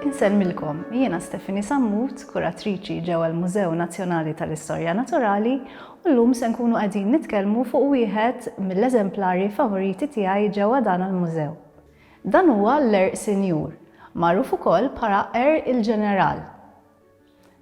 Insemmilkom, jiena Stefani Sammut, kuratriċi ġewwa l-Mużew Nazzjonali tal-Istorja Naturali, u llum se nkunu qegħdin nitkellmu fuq wieħed mill-eżemplari favoriti tiegħi ġewwa dan il-mużew. Dan huwa l-għerq sinjur, magħruf ukoll bħala għerq il-ġeneral.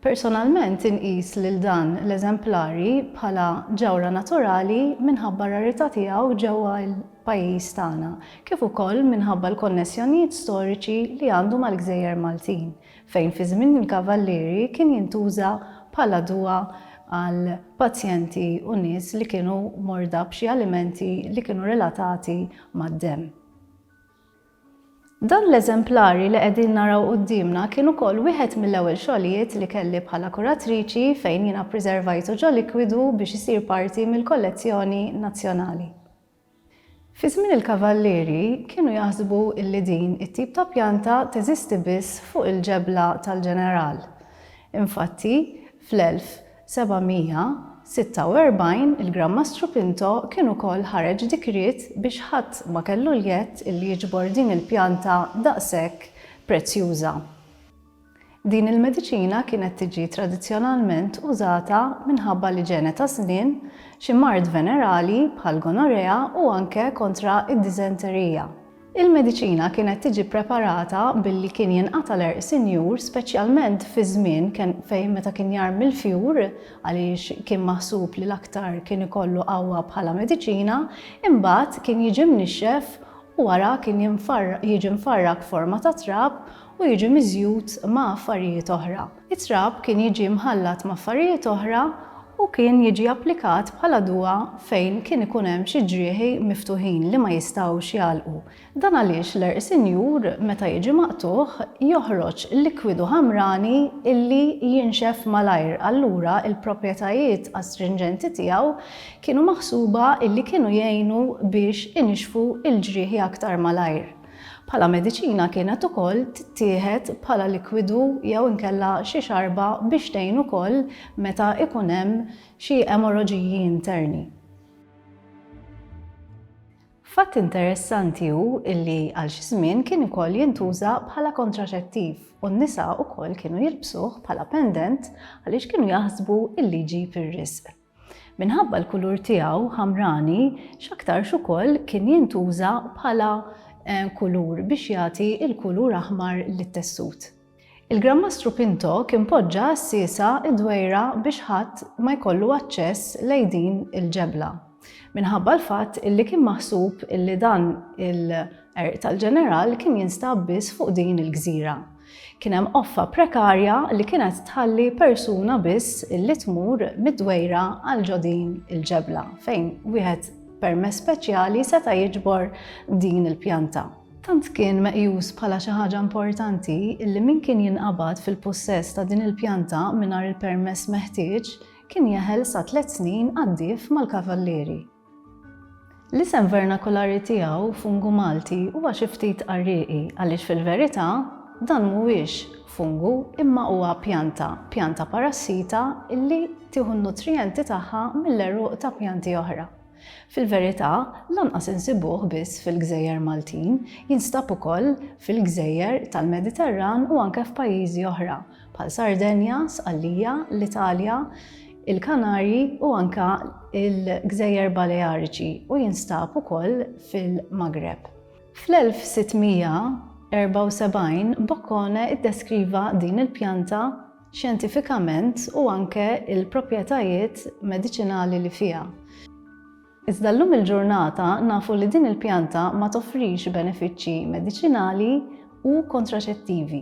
Personalment inqis lil dan l-eżemplari bħala ġawhra naturali minħabba r-rarità tiegħu ġewwa l-pajjiż tagħna kif ukoll minħabba l-konnessjonijiet storiċi li għandu mal-gżejjer Maltin fejn fi żmien il-Kavallieri kien jintuża bħala dwa għal pazjenti u nies li kienu morda b'xi alimenti li kienu relatati mad-demm. Dan l-eżemplari li qegħdin naraw quddiemna kien ukoll wieħed mill-ewwel xogħlijiet li kelli bħala kuratriċi fejn jiena ppriservajtu ġo likwidu biex isir parti mill-kollezzjoni nazzjonali. Fi żmien il-Kavallieri kienu jaħsbu illi din it-tip ta' pjanta teżisti biss fuq il-ġebla tal-Ġeneral. Infatti, fl-1900, 746 Il-Gran Mastru Pinto kien ukoll ħareġ dikriet biex ħadd ma kellu l-jedd li jiġbor din il-pjanta daqshekk prezzjuża. Din il-mediċina kienet tiġi tradizzjonalment użata minħabba li ġene taż-żmien xi mard venerali bħall-gonorea u anke kontra d-diżenterija. Il-mediċina kienet tiġi ppreparata billi kien jinqata' l-għerq sinjur speċjalment fiż-żmien ken fejn meta kien jarmi l-fjur għaliex kien maħsub li l-aktar kien ikollu qawwa bħala mediċina, imbagħad kien jiġi mnixxef u wara kien jinfar jiġi mfarrak forma ta' trab u jiġi miżjud ma' affarijiet oħra. It-trab kien jiġi mħallat m'affarijiet oħra u kien jiġi applikat bħala duwa fejn kien ikun hemm xi ġrieħi miftuħin li ma jistgħux jagħlqu. Dan għaliex l-għerq sinjur meta jiġi maqtugħ joħroġ likwidu ħamrani illi jinxef malajr allura l-proprjetajiet astrinġenti tiegħu kienu maħsuba illi kienu jgħinu biex inixfu l-ġrieħi aktar malajr. Bħala mediċina kienet ukoll tittieħed bħala likwidu jew inkella xi xarba biex tgħin ukoll meta ikun hemm xi emorraġiji interni. Fatt interessanti hu illi għal xi żmien kien ukoll jintuża bħala kontraċettiv u n-nisa ukoll kienu jilbsuh bħala pendent għaliex kienu jaħsbu illi jġib ir-riżq. Minħabba l-kulur tiegħu ħamrani, x'aktarx ukoll kien jintuża bħala eh, kulur biex jagħti l-kulur aħmar lit-tessut. Il-Granmastru Pinto kien poġġa għas-siesa id-dwejra biex ħadd ma jkollu aċċess lejn din il-ġebla. Minħabba l-fatt illi kien maħsub illi dan il-qerq tal-ġeneral kien jinstab biss fuq din il-gżira. Kien hemm qoffa prekarja li kienet tħalli persuna biss li tmur mid-dwejra għal ġo din il-ġebla fejn wieħed permess speċjali seta' jiġbor din il-pjanta. Tant kien meqjus bħala xi ħaġa importanti li min kien jinqabad fil-pussess ta' din il-pjanta mingħajr il-permess meħtieġ kien jeħel sa tliet snin għaddief mal-kavallieri. L-isem vernakulari tiegħu, fungu Malti, huwa xi ftit qarrieqi għaliex fil-verità dan mhuwiex fungu imma huwa pjanta, pjanta parassita li tieħu n-nutrijenti tagħha mill-għeruq ta' pjanti oħra. Fil-verità, lanqas insibuh biss fil-gżejjer Maltin, jinstab ukoll fil-gżejjer tal-Mediterran u anke f'pajjiżi oħra, bħal Sardenja, Sqallija, l-Italja, il-Kanarji u anka il-Gżejjer Baleariċi u jinstab ukoll fil-Magreb. Fl-1674 Boccone iddeskriva din il-pjanta xjentifikament u anke il-proprjetajiet mediċinali li fiha. Iżda llum il-ġurnata nafu li din il-pjanta ma toffrix benefiċċji mediċinali u kontraċettivi.